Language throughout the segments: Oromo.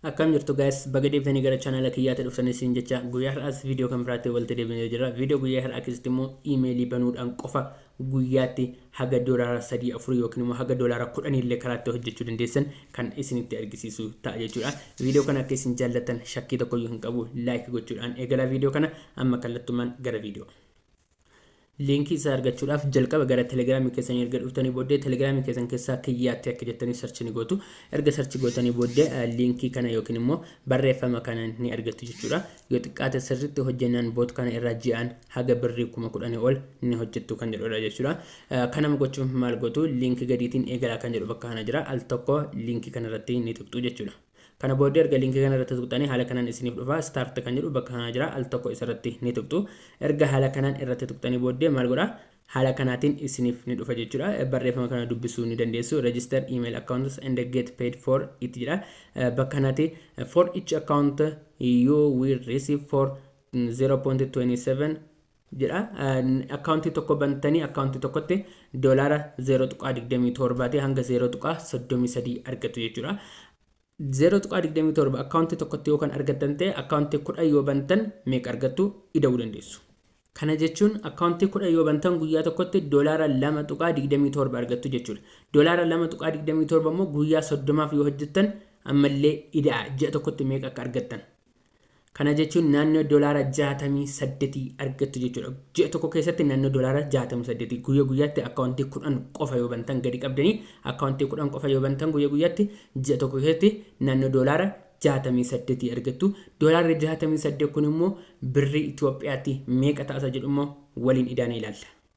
Akkam jirtu guys baga deebitanii gara channel kiyyaatti dhuftan isin jecha guyyaa har'aas video kan biraatti walitti deebinee jira video guyyaa har'aa keessatti immoo emailii banuudhaan qofa guyyaatti haga doolaara sadii afur yookiin immoo haga doolaara kudhanii illee karaatti hojjechuu dandeessan kan isinitti argisiisu ta'a jechuudha video kana akka isin jaallattan shakkii tokkoyyuu hin qabu like gochuudhaan eegalaa video kana amma kallattumaan gara video Liinkii isaa argachuudhaaf jalqaba gara telegiraamii keessanii erga dhuftanii booddee telegiraamii keessan keessaa kiyyaatti akka jettanii sarchi ni gootu. Erga sarchi gootanii booddee eh, liinkii kana yookiin immoo barreeffama kana ni argattu jechuudha. Yoo xiqqaate sirriitti hojjennaan boot kana irraa ji'aan haga birrii kuma kudhanii ol ni hojjettu kan jedhudha jechuudha. Eh, Kanama gochuuf maal gootu liinkii gadiitiin eegalaa kan jedhu bakka kana jira. Al tokko liinkii kana irratti ni tuqxu jechuudha. Kana booddee erga link kana irratti tuqxanii haala kanaan isiniif dhufa start kan jedhu bakka kanaa jira al tokko isarratti ni tuqxu erga haala kanaan irratti tuqxanii booddee maal godha haala kanaatiin isiniif ni dhufa jechuudha barreeffama kana dubbisuu ni dandeessu register email accounts and get paid for it jedha bakka kanatti for each account you will receive for 0.27 jedha akkaawuntii tokko bantanii akkaawuntii tokkotti doolaara 0.27 ta'e hanga 0.33 argatu jechuudha. 0.27 akkaawuntii tokkotti yoo kan argattan ta'e akkaawuntii 10 yoo bantan meeqa argattu ida'uu dandeessu. Kana jechuun akkaawuntii 10 yoo bantan guyyaa tokkotti doolaara 2.27 argattu jechuudha. Doolaara 2.27 immoo guyyaa 30f yoo hojjettan ammallee ida'a ji'a tokkotti meeqa akka argattan Kana jechuun naannoo dolaara 68 argattu jechuudha. Ji'a tokko keessatti naannoo dolaara 68 guyya guyyaatti akkaawuntii 10 qofa yoo bantan gadi qabdanii akkaawuntii 10 qofa yoo bantan guyya guyyaatti ji'a tokko keessatti naannoo dolaara 68 argattu. Dolaarri 68 kun immoo birrii Itoophiyaatti meeqa ta'a isa jedhu immoo waliin idaana ilaalla.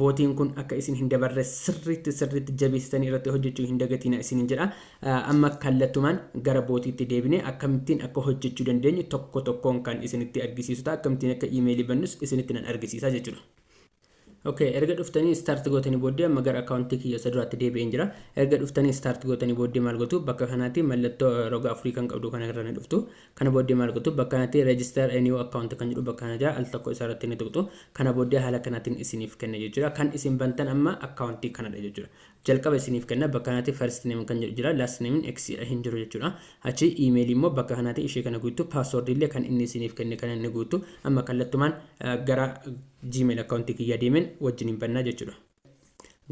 Bootiin kun akka isin hin dabarre sirriitti sirriitti jabeessitanii irratti hojjechuu hin dagatiinaa isiniin jedha. Amma kallattumaan gara bootiitti deebinee akkamittiin akka hojjechuu dandeenyu tokko tokkoon kan isinitti argisiisu ta'a. Akkamittiin akka iimeelii bannus isinitti nan argisiisa jechuudha. Okay, erga dhuftanii start gootanii booddee amma gara akkaawuntii kiyya isa duraatti deebi'een jira. Erga dhuftanii start gootanii booddee maal gootu bakka kanaatti mallattoo roga afurii kan qabdu kana irra ni dhuftu. Kana booddee maal gootu? Bakka kanatti register a new account kan jedhu bakka kana jira. Al tokko isa irratti ni tuqxu. Kana booddee haala kanaatiin isiniif kenna jechuudha. Kan isin bantan amma account kanadha jechuudha. Jalqaba isiniif kenna bakka kanatti first name kan jedhu jira. Last name x hin jiru jechuudha. Achi email immoo bakka kanatti ishee kana guuttu. Password illee kan inni isiniif kenne kana ni guuttu. Amma kallattumaan gara gmail account kiyya deemen wajjin hin bannaa jechuudha.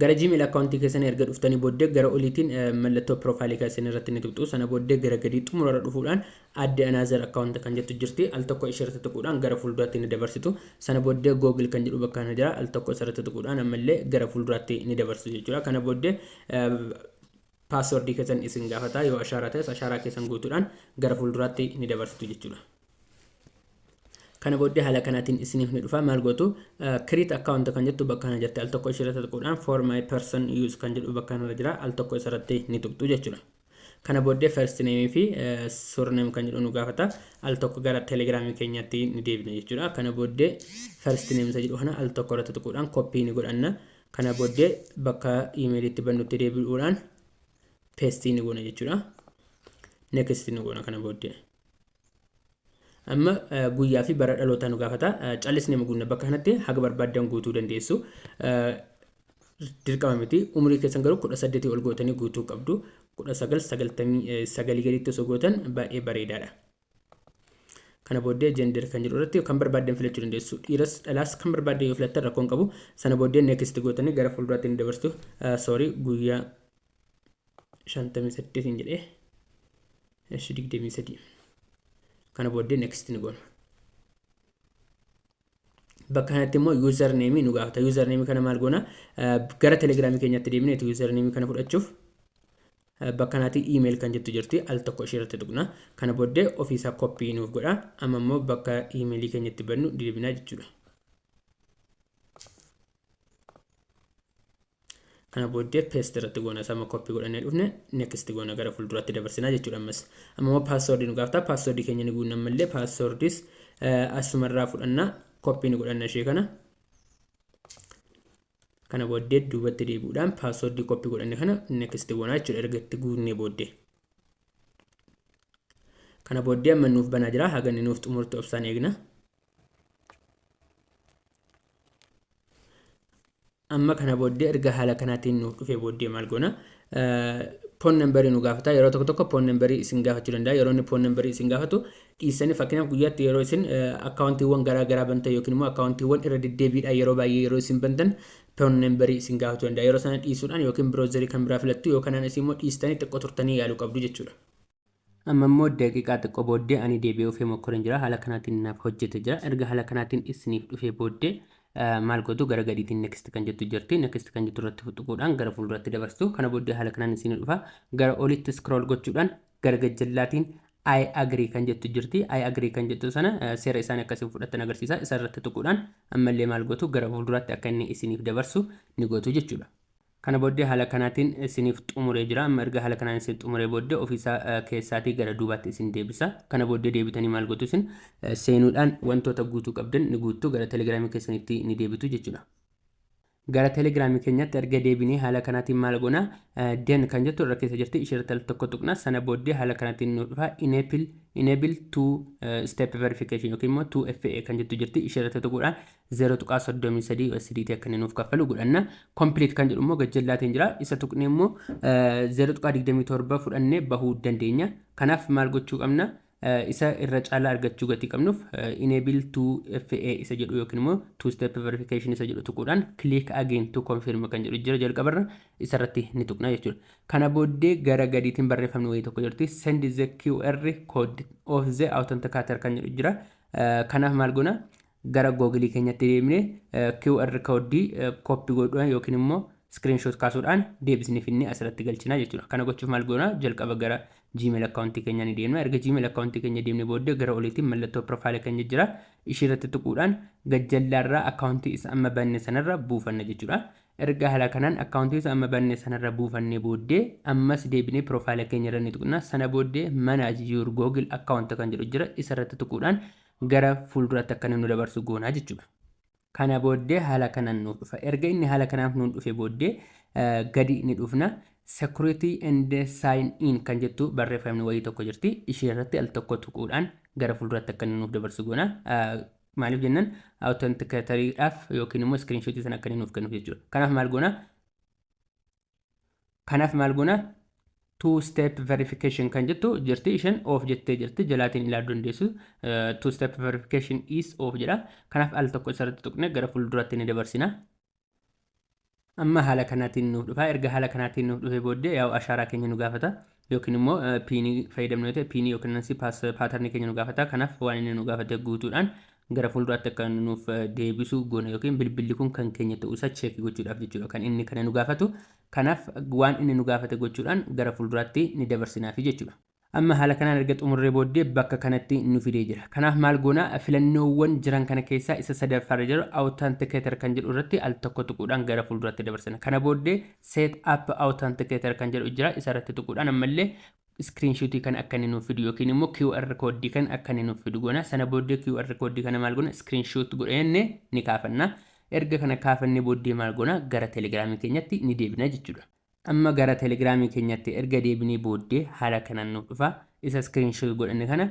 Gara Gmail account keessanii erga dhuftanii booddee gara oliitiin mallattoo profile keessanii irratti ni tuqxu. Sana booddee gara gadii xumura irra dhufuudhaan add another account kan jettu jirti. Al tokko ishee irratti tuquudhaan gara fuulduraatti ni dabarsitu. Sana booddee Google kan jedhu bakka kana jira. Al tokko isa irratti tuquudhaan ammallee gara fuulduraatti ni dabarsitu jechuudha. Kana booddee paaswordii keessan isin gaafata. Yoo ashaaraa ta'es ashaaraa keessan guutuudhaan gara fuulduraatti ni dabarsitu jechuudha. kana booddee haala kanaatiin isiniif ni dhufa maal gootu create account kan jettu bakka kana jirti al tokko ishirratti tuquudhaan for my person use kan jedhu bakka kanarra jira al tokko isarratti ni tuqxu jechuudha. Kana booddee first name fi surname kan jedhu nu gaafata al tokko gara telegram keenyatti ni deebina jechuudha. Kana booddee first name isa jedhu kana al tokko irratti tuquudhaan copy ni godhanna. Kana booddee bakka email itti bannutti deebi'uudhaan paste ni goona jechuudha. Next ni goona kana booddee. Amma guyyaa fi bara dhalootaa nu gaafata. Callisnee mugunna bakka kanatti haga barbaaddan guutuu dandeessu. Dirqama miti. Umurii keessan garuu kudha saddeetii ol gootanii guutuu qabdu. Kudha sagal sagaltamii sagalii gadiitti osoo gootan baay'ee bareedaadha. Kana booddee gender kan jedhu irratti kan barbaaddan filachuu dandeessu. Dhiiras dhalaas kan barbaaddan yoo filattan rakkoon qabu. Sana booddee next gootanii gara fuulduraatti ni dabarstu. Sorry guyyaa shantamii saddeet hin jedhee eshi digdamii sadii kana booddee next ni goona bakka kanatti immoo user name nu gaafata user name kana maal goona gara telegram keenyatti deemnee tu user name kana fudhachuuf bakka kanatti email kan jettu jirti al tokko ishee irratti tuqna kana booddee ofiisaa copy nuuf godha amma immoo bakka email keenyatti bannu deebinaa jechuudha Kana booddee paste irratti goona isa amma copy godhannee dhufne next goona gara fuulduraatti dabarsinaa jechuudha ammas. Amma immoo password nu gaafata password keenya ni guunna ammallee passwordis asuma irraa fudhanna copy ni godhanna ishee kana. Kana booddee duubatti deebi'uudhaan password copy godhanne kana next goona jechuudha erga itti guunnee booddee. Kana booddee amma nuuf banaa jira haga inni nuuf xumurtu obsaan eegna. Amma kana booddee erga haala kanaatiin nuuf dhufee booddee maal goona? Poon nambarii nu gaafata. Yeroo tokko tokko poon nambarii isin gaafachuu danda'a. Yeroo inni poon nambarii isin gaafatu dhiissanii fakkeenyaaf guyyaatti yeroo isin akkaawuntiiwwan garaa garaa bantan yookiin immoo akkaawuntiiwwan irra deddeebiidhaan yeroo baay'ee yeroo isin bantan poon nambarii isin gaafachuu danda'a. Yeroo sana dhiisuudhaan yookiin biroozarii kan biraa filattu yoo kanaan isin immoo dhiistanii xiqqoo turtanii yaaluu qabdu jechuudha. Amma immoo daqiiqaa xiqqoo booddee ani deebi'ee ofee mokkoreen jira. Haala kanaatiin naaf hojjete jira. Erga haala kanaatiin isiniif dhufee booddee maal gootu gara gadiitiin next kan jettu jirti. Next kan jettu irratti tuquudhaan gara fuulduratti dabarstu. Kana booddee haala kanaan isinii dhufa. Gara olitti scroll gochuudhaan gara gajjallaatiin I agree kan jettu jirti. I agree kan jettu sana seera isaanii akkasiin fudhattan agarsiisa. Isa irratti tuquudhaan ammallee maal gootu gara fuulduraatti akka inni isiniif dabarsu ni gootu jechuudha. Kana booddee haala kanaatiin isiniif xumuree jira. Amma erga haala kanaan isin xumuree booddee ofii isaa keessaatii gara duubaatti isin deebisa. Kana booddee deebitanii maal gootu isin? Seenuudhaan wantoota guutuu qabdan ni guuttu, gara Telegram keessanitti ni deebitu jechuudha. Gara Telegram keenyatti erga deebinee haala kanaatiin maal goona? Den kan jettu irra keessa jirti, ishee irratti al tokko tuqna. Sana booddee haala kanaatiin nu dhufa enable enable two step verification yookiin immoo 2FA kan jettu jirti, ishee irratti tuquudhaan 0.33 USDT akka inni nuuf kaffalu godhanna. Complete kan jedhu immoo gajjallaatiin jira. Isa tuqnee immoo 0.27 fudhannee bahuu dandeenya. Kanaaf maal gochuu qabna? Isa irra caalaa argachuu gatii qabnuuf enable 2FA isa jedhu yookiin immoo two step verification isa jedhu tuquudhaan click again to confirm kan jedhu jira jalqabarra isa irratti ni tuqna jechuudha. Kana booddee gara gadiitiin barreeffamni wayii tokko jirti send the QR code of the authenticator kan jedhu jira. Kanaaf maal goona? Gara Google keenyatti deebinee QR code copy godhuudhaan yookiin immoo screenshot kaasuudhaan deebisnee finnee asirratti galchina jechuudha. Kana gochuuf maal goona? Jalqaba gara Gmail account keenya ni deemna. Erga Gmail account keenya deemnee booddee gara oliitiin mallattoo profile keenya jira. Ishii irratti tuquudhaan gajjallaarraa account isa amma banne sanarra buufanna jechuudha. Erga haala kanaan account isa amma banne sanarra buufannee booddee ammas deebinee profile keenya irra ni tuqna. Sana booddee manage your Google account kan jedhu jira. Isa irratti tuquudhaan gara fuulduraatti akka inni nu dabarsu goonaa jechuudha. Kana booddee haala kanaan nuuf dhufa. Erga inni haala kanaaf nuun dhufe booddee gadi ni dhufna. Security and sign in kan jettu barreeffamni wayii tokko jirti. Ishee irratti al tokko tuquudhaan gara fuulduraatti akka inni nuuf dabarsu goona. Maaliif jennan authenticator dhaaf yookiin immoo screenshot sana akka inni nuuf kennuuf jechuudha. Kanaaf maal goona? Kanaaf maal goona? Two step verification kan jettu jirti isheen of jettee jirti jalaatiin ilaaluu dandeessu. Two step verification is of jedha. Kanaaf al tokko isarratti tuqne gara fuulduraatti ni dabarsina. Amma haala kanaatiin nuuf dhufa. Erga haala kanaatiin nuuf dhufee booddee yaa'u ashaaraa keenya nu gaafata. yookiin immoo pin fayyadamnu yoo ta'e pin yookiin nansi pass pattern keenya nu gaafata kanaaf waan inni nu gaafate guutuudhaan gara fuulduraatti akka inni nuuf deebisu goona yookiin bilbilli kun kan keenya ta'uu isaa cheekii gochuudhaaf jechuudha kan inni kana nu gaafatu kanaaf waan inni nu gaafate gochuudhaan gara fuulduraatti ni dabarsinaafi jechuudha. Amma haala kanaan erga xumurree booddee bakka kanatti nu fidee jira. Kanaaf maal goona filannoowwan jiran kana keessaa isa sadaffaarra jiru authenticator kan jedhu irratti al tokko tuquudhaan gara fuulduraatti dabarsina. Kana booddee Set up authenticator kan jedhu jira isa irratti tuquudhaan ammallee screenshot kan akka inni nuuf fidu yookiin immoo QR code kan akka inni nuuf fidu goona sana booddee QR code kana maal goona screenshot godhannee ni kaafanna erga kana kaafannee booddee maal goona gara telegiraamii keenyatti ni deebina jechuudha amma gara telegiraamii keenyatti erga deebinee booddee haala kanaan nuuf dhufa isa screenshot godhanne kana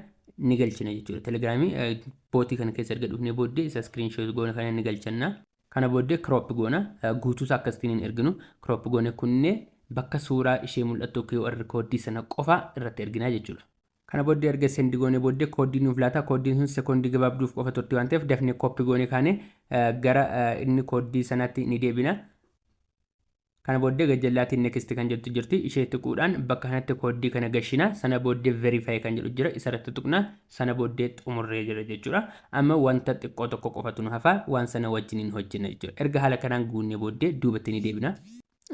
ni galchina jechuudha telegiraamii bootii kana keessa erga dhufnee booddee isa screenshot goona kana ni galchanna Kana booddee crop goona. Guutuu isaa akkasittiin hin erginu. Crop goonee kunnee bakka suuraa ishee mul'attu QR kooddii sana qofa irratti erginaa jechuudha. Kana booddee erga send goonee booddee kooddii nuuf laata. Kooddiin sun sekoondii gabaabduuf qofa turti waan ta'eef dafnee copy goonee kaanee gara inni kooddii sanaatti ni deebina. Kana booddee gajjallaatiin next kan jettu jirti ishee tuquudhaan bakka kanatti kooddii kana gashina sana booddee verify kan jedhu jira isarratti tuqna sana booddee xumurree jira jechuudha amma wanta xiqqoo tokko qofatu nu hafa waan sana wajjiniin hojjenna jechuudha erga haala kanaan guunnee booddee duubatti ni deebina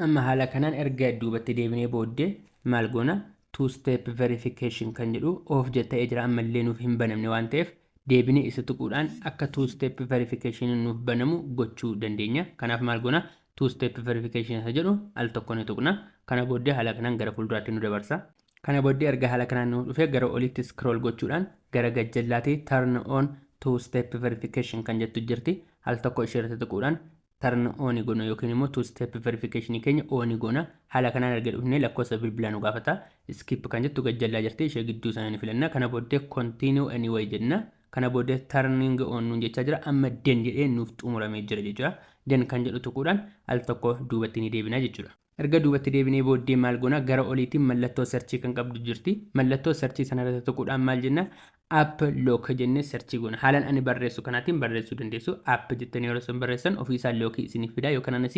amma haala kanaan erga duubatti deebinee booddee maal goona two step verification kan jedhu of jetta'ee jira ammallee nuuf hin banamne waan ta'eef deebinee isa tuquudhaan akka two step verification nuuf banamu gochuu dandeenya kanaaf maal goona two step verification isa jedhu al tokko ni tuqna kana booddee haala kanaan gara fuulduraatti nu dabarsa kana booddee erga haala kanaan nu dhufee gara olitti scroll gochuudhaan gara gajjallaati turn on two step verification kan jettu jirti al tokko ishee irratti tuquudhaan turn on goona yookiin immoo two step verification keenya on goona haala kanaan erga dhufnee lakkoofsa bilbilaa nu gaafata skip kan jettu gajjallaa jirti ishee gidduu sana ni filanna kana booddee continue anyway jenna Kana booda turning on nuun jechaa jira. Amma den jedhee nuuf xumuramee jira jechuudha. Den kan jedhu tuquudhaan al tokko duubatti ni deebina jechuudha. Erga duubatti deebinee booddee maal goona? Gara oliitiin mallattoo search kan qabdu jirti. Mallattoo search sana irratti tuquudhaan maal jenna? App lock jennee search goona. Haalan ani barreessu kanaatiin barreessuu dandeessu. App jettanii yeroo isin barreessan ofii isaa lock isiniif fidaa yookaan anas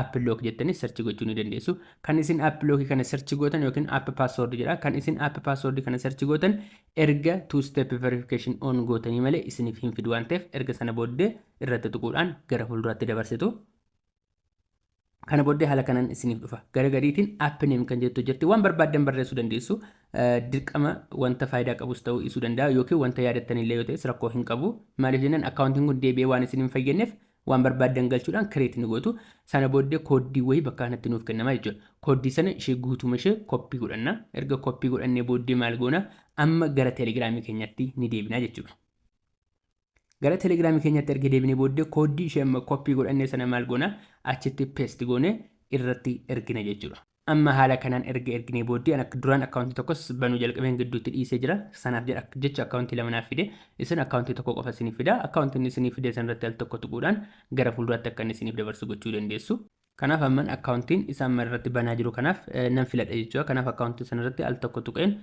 app lock jettanii search gochuu ni dandeessu. Kan isin app lock kana search gootan yookiin app password jedha. Kan isin app password kana search gootan Erga two step verification on gootanii malee isiniif hin fidu waan ta'eef erga sana booddee irratti tuquudhaan gara fuulduraatti dabarsitu. Kana booddee haala kanaan isiniif dhufa. Gara gadiitiin app name kan jettu jirti. Waan barbaaddan barreessuu dandeessu. Dirqama wanta faayidaa qabus ta'uu dhiisuu danda'a yookiin wanta yaadattan illee yoo ta'es rakkoo hin qabu. Maaliif jennaan akkaawuntiin kun deebi'ee waan isin hin fayyadneef Waan barbaaddan galchuudhaan create ni gootu. Sana booddee kooddii wayii bakka kanatti nuuf kennama jechuudha. Kooddii sana ishee guutuuma ishee copy godhanna. Erga copy godhannee booddee maal goona? Amma gara telegiraamii keenyatti ni deebina jechuudha. Gara telegiraamii keenyatti erga deebinee booddee kooddii ishee amma copy godhannee sana maal goona? Achitti paste goonee irratti ergina jechuudha. Amma haala kanaan erga erginee booddee an akka duraan account tokkos banuu jalqabeen gidduutti dhiisee jira sanaaf jedha jecha account lama naaf fide isin account tokko qofa isiniif fida account inni isiniif fide sanirratti al tokko tuquudhaan gara fuulduraatti akka inni isiniif dabarsu gochuu dandeessu. Kanaaf amman account isa amma irratti banaa jiru kanaaf nan filadha jechuudha kanaaf account sanirratti al tokko tuqeen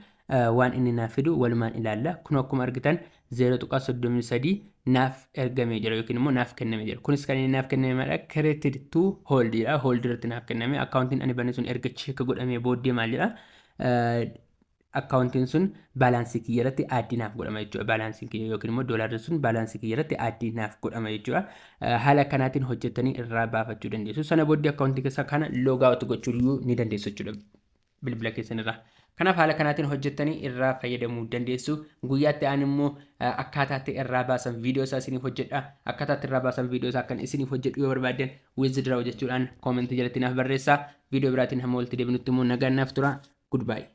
waan inni naaf fidu walumaan ilaalla kunoo akkuma argitan 0.33 naaf ergamee jira yookiin immoo naaf kenname jira. Kunis kan inni naaf kenname maadha created to hold dha. Hold irratti naaf kenname. Akkaawuntiin ani bane sun erga check godhamee booddee maal jedha? Akkaawuntiin sun baalaansii kiyya irratti aaddii naaf godhama jechuudha. Baalaansiin kiyya yookiin immoo doolaarri sun baalaansii kiyya irratti aaddii naaf godhama jechuudha. Haala kanaatiin hojjettanii irraa baafachuu dandeessu. Sana booddee akkaawuntii keessaa kana log out gochuu ni dandeessu jechuudha. bilbila keessan irraa. Kanaaf haala kanaatiin hojjettanii irraa fayyadamuu dandeessu. Guyyaatti aan immoo akkaataatti irraa baasan viidiyoo isaa isiniif hojjedha. Akkaataatti irraa baasan viidiyoo isaa akkan isiniif hojjedhu yoo barbaaddan withdraw jechuudhaan koomentii jalatti naaf barreessaa. Viidiyoo biraatiin hamma walitti deebinutti immoo nagaan naaf tura. Goodbye.